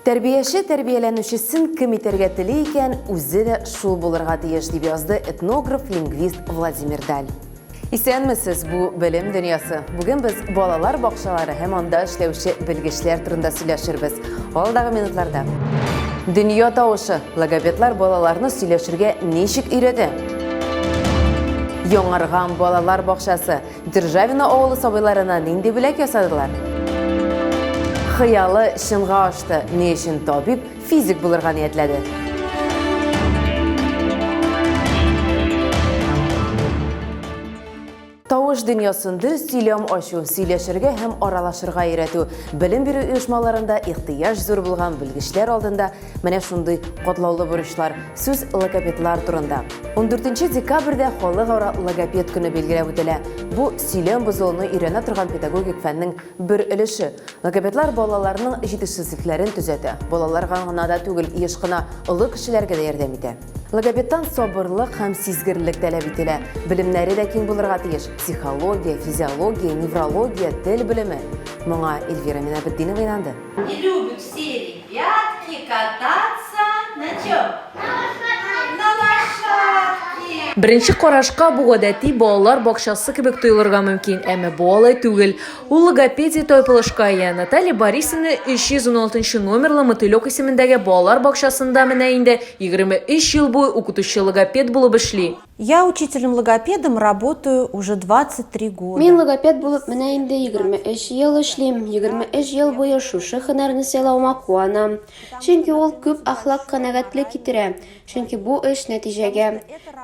Тәрбияче тәрбияләнүчесен кем итәргә тели икән, үзе дә шул булырга тиеш, дип язды этнограф, лингвист Владимир Даль. Исәнмесез, бу белем дөньясы. Бүген без балалар бакчалары һәм анда эшләүче белгечләр турында сөйләшербез. Алдагы минутларда. Дөнья тавышы. Логопедлар балаларны сөйләшергә ничек өйрәтә? Яңарган балалар бакчасы. Державино авылы сабыйларына нинди бүләк ясадылар? Хыялы чынга ашты, ни өчен табиб, физик булырга ниятләде? Тавыш дөньясын дөрес сөйләм ачу, сөйләшергә һәм аралашырга өйрәтү, белем бирү оешмаларында ихтыяҗ зур булган белгечләр алдында Менә шундый катлаулы бурычлар сүз логопедлар турында. 14 декабрьдә халыкара логопед көне билгеләп үтелә. Бу сөйләм бозылуны өйрәнә торган педагогик фәннең бер өлеше. Логопедлар балаларның җитешсезлекләрен төзәтә. Балаларга гына да түгел, еш кына олы кешеләргә дә ярдәм итә. Логопедтан сабырлык һәм сизгерлек таләп ителә. Белемнәре дә киң булырга тиеш. Психология, физиология, неврология, тел белеме. Моңа Эльвира Минабетдинова инанды. Не любит серии. Прятки кататься на чем? На лошадке. Беренче карашка бу гадәти балалар бакчасы кебек тоелырга мөмкин, әмма бу алай түгел. Ул логопедия тайпылышка ия. Наталья Борисовна 316 номерлы Мотылек исемендәге балалар бакчасында менә инде 23 ел буе укытучы-логопед булып эшли. Я учителем-логопедом работаю уже 23 года. Мин логопед булып менә инде 23 ел эшлим. 23 ел буе шушы хөнәрне сайлауыма куанам. Чөнки ул күп ахлак канәгатьлек китерә. Чөнки бу эш нәтиҗәгә.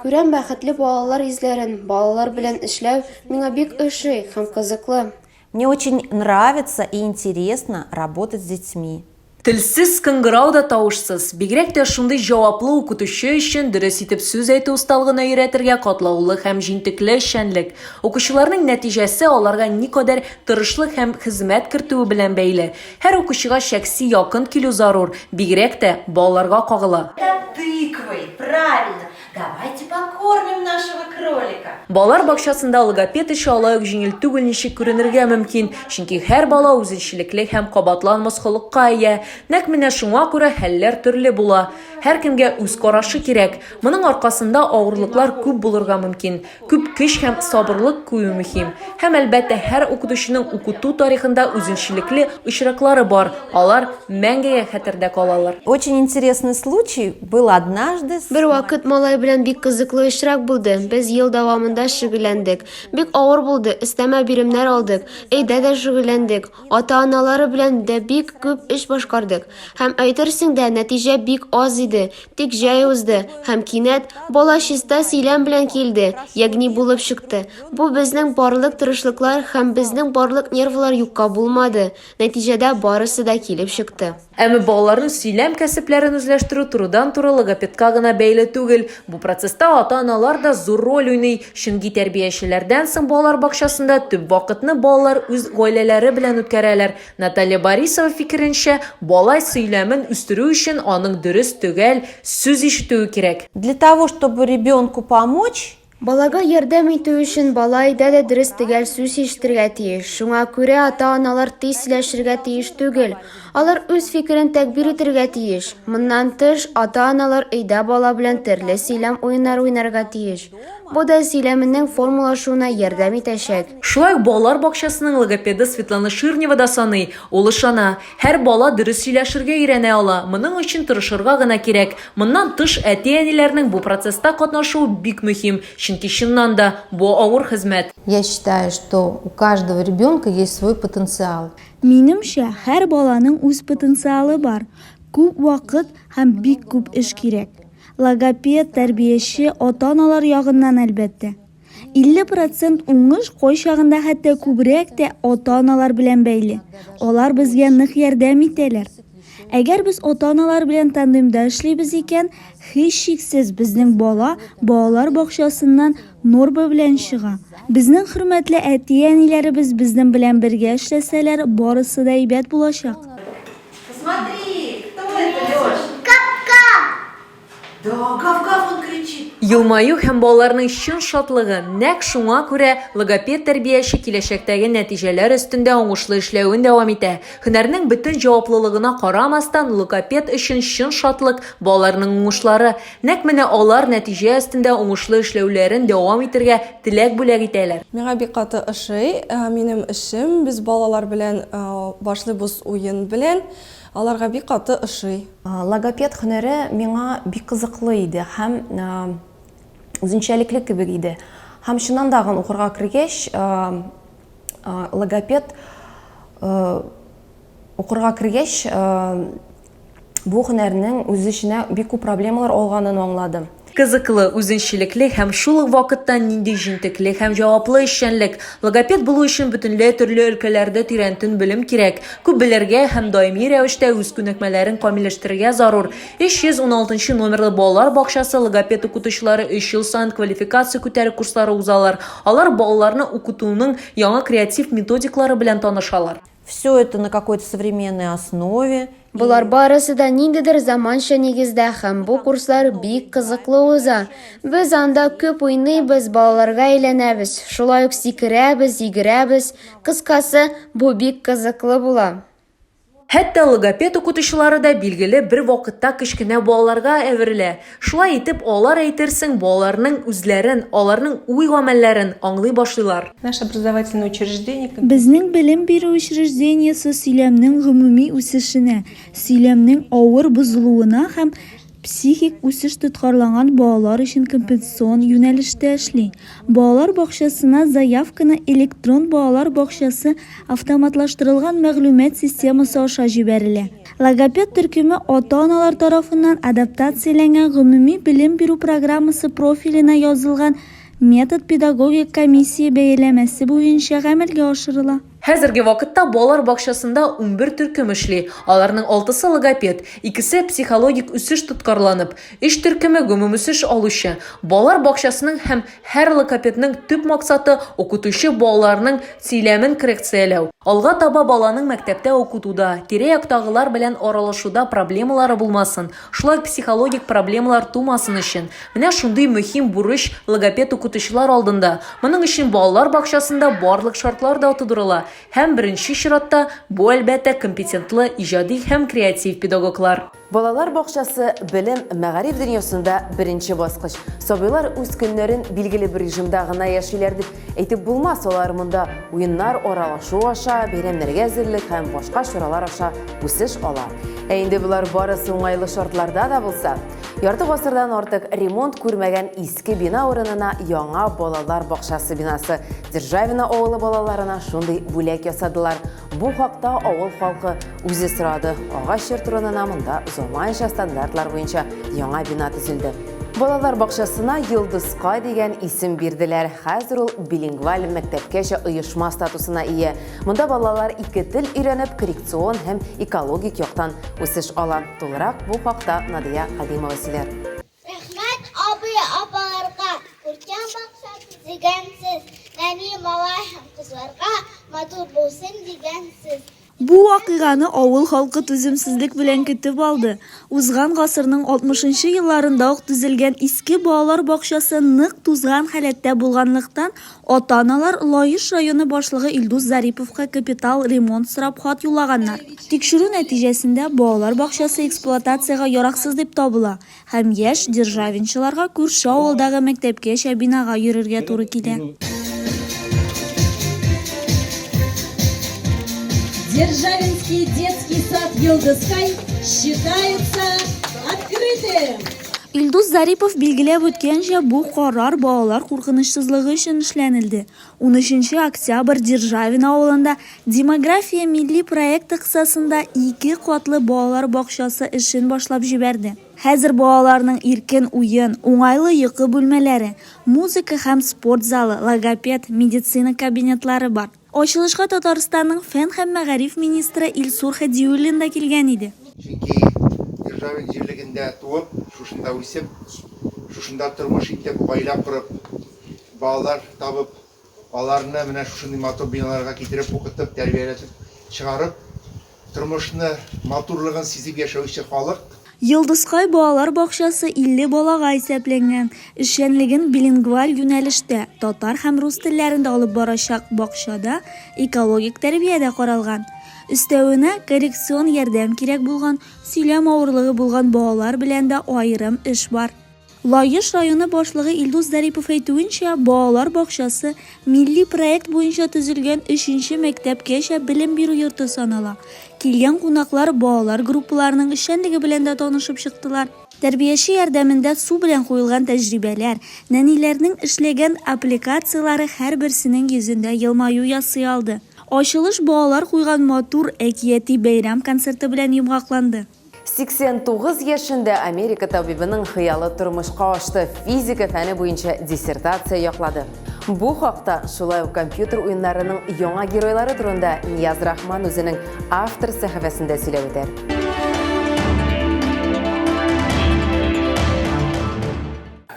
Күрәм бәхетле балалар йөзләрен, балалар белән эшләү миңа бик ошый һәм кызыклы. Мне очень нравится и интересно работать с детьми. Телсез кыңгырау да тавышсыз, бигрәк тә шундый җаваплы укытучы өчен дөрес итеп сүз әйтү осталыгына өйрәтергә катлаулы һәм җентекле эшчәнлек. Укучыларның нәтиҗәсе аларга никадәр тырышлык һәм хезмәт кертүе белән бәйле. Һәр укучыга шәхси якын килү зарур, бигрәк тә балаларга кагыла. Это тыквой, правильно. Давайте покормим нашего кролика. Балалар бакчасында логопед эше алай ук җиңел түгел ничек күренергә мөмкин, чөнки һәр бала үзенчәлекле һәм кабатланмас холыкка ия. Нәкъ менә шуңа күрә хәлләр төрле була. Һәркемгә үз карашы кирәк. Моның аркасында авырлыклар күп булырга мөмкин. Күп көч һәм сабырлык кую мөһим. Һәм, әлбәттә, һәр укытучының укыту тарихында үзенчәлекле очраклары бар, алар мәңгегә хәтердә калалар. Очень интересный случай был однажды с. Бервакыт малай белән бик кызыклы очрак булды. Без ел дәвамында шөгыльләндек. Бик авыр булды, өстәмә биремнәр алдык, өйдә дә шөгыльләндек, ата-аналары белән дә бик күп эш башкардык. Һәм, әйтерсең дә, нәтиҗә бик аз иде. Тик җәй узды, һәм кинәт, бала чиста сөйләм белән килде, ягъни булып чыкты. Бу безнең барлык тырышлыклар һәм безнең барлык нервлар юкка булмады, нәтиҗәдә барысы да килеп чыкты. Әмма балаларның сөйләм кәсепләрен үзләштерү турыдан-туры логопедка гына бәйле түгел. Бу процесста ата-аналар да зур роль уйный, чөнки тәрбиячеләрдән соң балалар бакчасында төп вакытны балалар үз гаиләләре белән үткәрәләр, Наталья Борисова фикеренчә, бала сөйләмен үстерү өчен аның дөрес, төгәл сүз ишетүе кирәк. Для того, чтобы ребенку помочь. Балага ярдәм итү өчен бала өйдә дә дөрес, төгәл сүз ишетергә тиеш. Шуңа күрә ата-аналар тиз сөйләшергә тиеш түгел. Алар үз фикерен тәгъбир итергә тиеш. Моннан тыш, ата-аналар өйдә бала белән төрле сөйләм уеннары уйнарга тиеш. Бу да сөйләменең формалашуына ярдәм итәчәк. Шулай ук балалар бакчасының логопеды Светлана Ширнева да саный. Ул ышана, һәр бала дөрес сөйләшергә өйрәнә ала, моның өчен тырышырга гына кирәк. Моннан тыш, әти-әниләрнең бу процесста катнашуы бик мөһим, чөнки, чыннан да, бу авыр хезмәт. Я считаю, что у каждого ребенка есть свой потенциал. Минемчә, һәр баланың үз потенциалы бар, күп вакыт һәм бик күп эш кирәк. Логопед, тәрбияче, ата-аналар ягыннан, әлбәттә. 50 процент уңыш кайчагында хәтта күбрәк тә ата-аналар белән бәйле. Алар безгә нык ярдәм итәләр. Әгәр без ата-аналар белән тандемда эшлибез икән, һичшиксез, безнең бала балалар бакчасыннан норма белән чыга. Безнең хөрмәтле әти-әниләребез безнең белән бергә эшләсәләр, барысы да әйбәт булачак. Елмаю һәм балаларның чын шатлыгы, нәкъ шуңа күрә логопед-тәрбияче киләчәктәге нәтиҗәләр өстендә уңышлы эшләвен дәвам итә. Һөнәрнең бөтен җаваплылыгына карамастан, логопед өчен чын шатлык, балаларның уңышлары. Нәкъ менә алар нәтиҗә өстендә уңышлы эшләүләрен дәвам итергә теләк бүләк итәләр. Миңа бик каты ошый минем эшем. Без балалар белән башлыйбыз уен белән. Аларга бик каты ошый. Логопед һөнәре миңа бик кызыклы иде һәм үзенчәлекле кебек иде. Һәм чыннан да агын укырга кергәч, логопед укырга кергәч, бу һөнәрнең үз эченә бик күп проблемалар алганын аңладым. Кызыклы, үзенчәлекле һәм шул ук вакытта нинди җентекле һәм җаваплы эшчәнлек! Логопед булу өчен бөтенләй төрле өлкәләрдә тирәнтен белем кирәк, күп белергә һәм даими рәвештә үз күнекмәләрен камилләштерергә зарур. 316 нчы номерлы балалар бакчасы логопед укытучылары өч ел саен квалификация күтәрү курслары узалар, алар балаларны укытуның яңа креатив методиклары белән танышалар. Все это на какой-то современной основе. Болар барысы да ниндидер заманча нигездә һәм бу курслар бик кызыклы уза. Без анда күп уйныйбыз, балаларга әйләнәбез, шулай ук сикерәбез, йөгерәбез. Кыскасы, бу бик кызыклы була. Хәтта логопед укытучылары да билгеле бер вакытта кечкенә балаларга әверелә. Шулай итеп, алар, әйтерсең, балаларның үзләрен, аларның уй-гамәлләрен аңлый башлыйлар. Безнең белем бирү учреждениесе сөйләмнең гомуми үсешенә, сөйләмнең авыр бозылуына һәм психик үсеш тоткарланган балалар өчен компенсацион юнәлештә эшли. Балалар бакчасына заявканы электрон балалар бакчасы автоматлаштырылган мәгълүмат системасы аша җибәрелә. Логопед төркеме ата-аналар тарафыннан адаптацияләнгән гомуми белем бирү программасы профиленә язылган метод-педагогик комиссия бәяләмәсе буенча гамәлгә ашырыла. Хәзерге вакытта балалар бакчасында унбер төркем эшли, аларның алтысы логопед, икесе психологик үсеш тоткарланып, өч төркеме гомумүсеш алучы. Балалар бакчасының һәм Һәр логопедның төп максаты, укытучы балаларның сөйләмен коррекцияләү. Алга таба баланың мәктәптә укытуда, тирә-яктагылар белән аралашуда проблемалары булмасын, шулай ук психологик проблемалар тумасын өчен. Менә шундый мөһим бурыч логопед-укытучылар алдында. Моның өчен балалар бакчасында барлык шартлар да тудырыла. Һәм, беренче чиратта, бу, әлбәттә, компетентлы, иҗади һәм креатив педагоглар. Балалар бакчасы белем, мәгариф дөньясында беренче баскыч. Сабыйлар үз көннәрен билгеле бер режимда гына яшиләр дип әйтеп булмас, алар монда уеннар, аралашу аша, бәйрәмнәргә әзерлек һәм башка чаралар аша үсеш ала. Ә инде болар барысы уңайлы шартларда да булса! Ярты гасырдан артык ремонт күрмәгән иске бина урынына яңа балалар бакчасы бинасы Державино авылы балаларына шундый бүләк ясадылар. Бу хакта авыл халкы үзе сорады. Агач йорт урынына монда заманча стандартлар буенча яңа бина төзелде. Балалар бакчасына Йолдызкай дигән исем бирделәр. Хәзер ул билингваль мәктәпкәчә оешма статусына ия. Монда балалар ике тел өйрәнеп, коррекцион һәм экологик яктан үсеш ала. Тулырак бу хакта Надия Кадимова сөйләр. Рәхмәт абый, апаларга, күркәм максат дигән сез, нәни малай һәм кызларга матур булсын дигән сез. Бу вакыйганы авыл халкы түземсезлек белән көтеп алды. Узган гасырның алтмышынчы елларында ук төзелгән иске балалар бакчасы нык тузган халәттә булганлыктан, Ата-аналар Лаеш районы башлыгы Илдус Зариповка капитал ремонт сорап хат юллаганнар. Тикшерү нәтиҗәсендә балалар бакчасы эксплуатациягә яраксыз дип табыла һәм яшь державинчыларга күрше авылдагы мәктәпкәчә бинага йөрергә туры килә. Державинский детский сад Йолдызкай считается открытым! Илдус Зарипов билгеләп үткәнчә, бу карар балалар куркынычсызлыгы өчен эшләнелде. 13 октябрь Державин авылында Демография милли проекты кысасында ике катлы балалар бакчасы эшен башлап җибәрде. Хәзер балаларның иркен уен, уңайлы йокы бүлмәләре, музыка һәм спорт залы, логопед, медицина кабинетлары бар. Ачылышка Татарстанның фән һәм мәгариф министры Илсур Һадиуллин да килгән иде. Чөнки Ержавин җирлегендә туып, шушында үсеп, шушында тормыш итеп, гаилә корып, балалар табып, аларны менә шушындый матур биналарга китереп, укытып, тәрбияләтеп чыгарып, Тормышны матурлыгын сизеп яшәүче халык. Йолдызкай балалар бакчасы 50 балага исәпләнгән. Эшчәнлеген билингваль юнәлештә, татар һәм рус телләрендә алып барачак бакчада экологик тәрбия дә каралган. Өстәвенә, коррекцион ярдәм кирәк булган, сөйләм авырлыгы булган балалар белән дә аерым эш бар. Лаеш районы башлыгы Илдус Зарипов әйтүенчә, балалар бакчасы милли проект буенча төзелгән өченче мәктәпкәчә белем бирү йорты санала. Килгән кунаклар балалар группаларының эшчәнлеге белән дә танышып чыктылар. Тәрбияче ярдәмендә су белән куелган тәҗрибәләр, нәниләрнең эшләгән аппликацияләре һәрберсенең йөзендә елмаю ясый алды. Ачылыш балалар куйган матур әкияти бәйрәм концерты белән йомгакланды. 89 яшендә Америка табибының хыялы тормышка ашты, физика фәне буенча диссертация яклады. Бу хакта, шулай ук компьютер уеннарының яңа геройлары турында Нияз Рахман үзенең автор сәхифәсендә сөйләп үтә.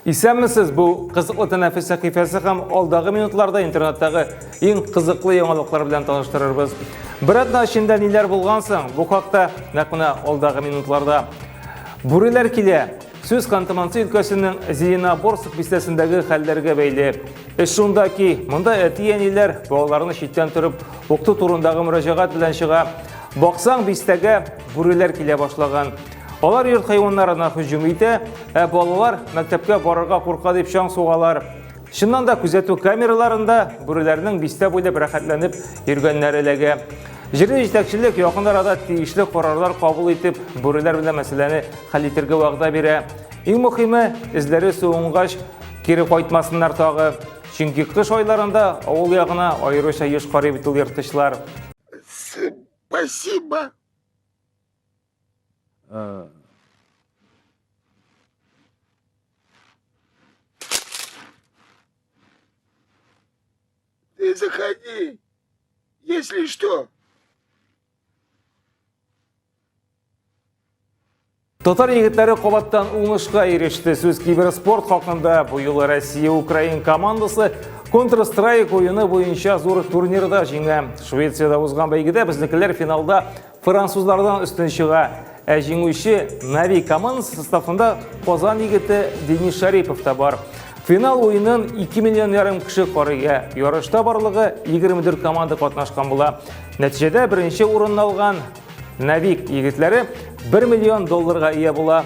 Исәнмесез, бу кызыклы тәнәфес сәхифәсе һәм алдагы минутларда интернеттагы иң кызыклы яңалыклар белән таныштырырбыз. Бер атна эчендә ниләр булган соң, бу хакта нәкъ менә алдагы минутларда. Бүреләр килә. Сүз Ханты-Мансы өлкәсенең Зеленоборск бистәсендәге хәлләргә бәйле. Эш шунда ки, монда әти-әниләр балаларны читтән торып укыту турындагы мөрәҗәгать белән чыга. Баксаң, бистәгә бүреләр килә башлаган. Алар йорт хайваннарына һөҗүм итә, ә балалар мәктәпкә барырга курка дип чаң сугалар. Чыннан да күзәтү камераларында бүреләрнең бистә буйлап рәхәтләнеп йөргәннәре эләгә. Җирле җитәкчелек якын арада тиешле карарлар кабул итеп, бүреләр белән мәсьәләне хәл итергә вәгъдә бирә. Иң мөхиме, эзләре суынгач, кире кайтмасыннар тагы. Чөнки кыш айларында авыл ягына аеруча еш карый бит ул ерткычлар. Спасибо. Э, Ты заходи, если что. Татар егетләре кабаттан уңышка иреште. Сүз киберспорт хакында бу юлы Россия Украин командасы Counter-Strike уены буенча зур турнирда җиңә. Швециядә узган бәйгедә безнекеләр финалда Французлардан өстен чыга, ә җиңүче Нави командасы составында Казан егете Денис Шарипов та бар. Финал уенын 2 миллион ярым кеше карыйга. Ярышта барлыгы 24 команда катнашкан була. Нәтиҗәдә беренче урынны алган Навик егетләре 1 миллион долларга ия була.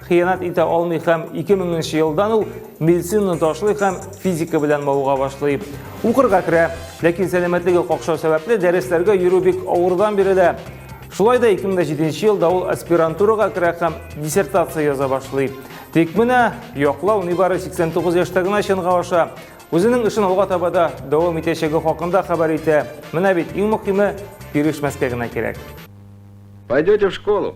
хыянәт итә алмый һәм 2000 нче елдан ул медицинаны ташлый һәм физика белән мавыга башлый. Укырга керә, ләкин сәламәтлеге какшау сәбәпле дәресләргә йөрү бик авырдан бирелә. Шулай да 2007 елда ул аспирантурага керә һәм диссертация яза башлый. Тик менә яклау нибары 89 яшьтә генә чынга аша. Үзенең эшен алга таба да дәвам итәчәге хакында хәбәр итә. Менә бит иң мөһиме бирешмәскә генә кирәк. Пойдете в школу?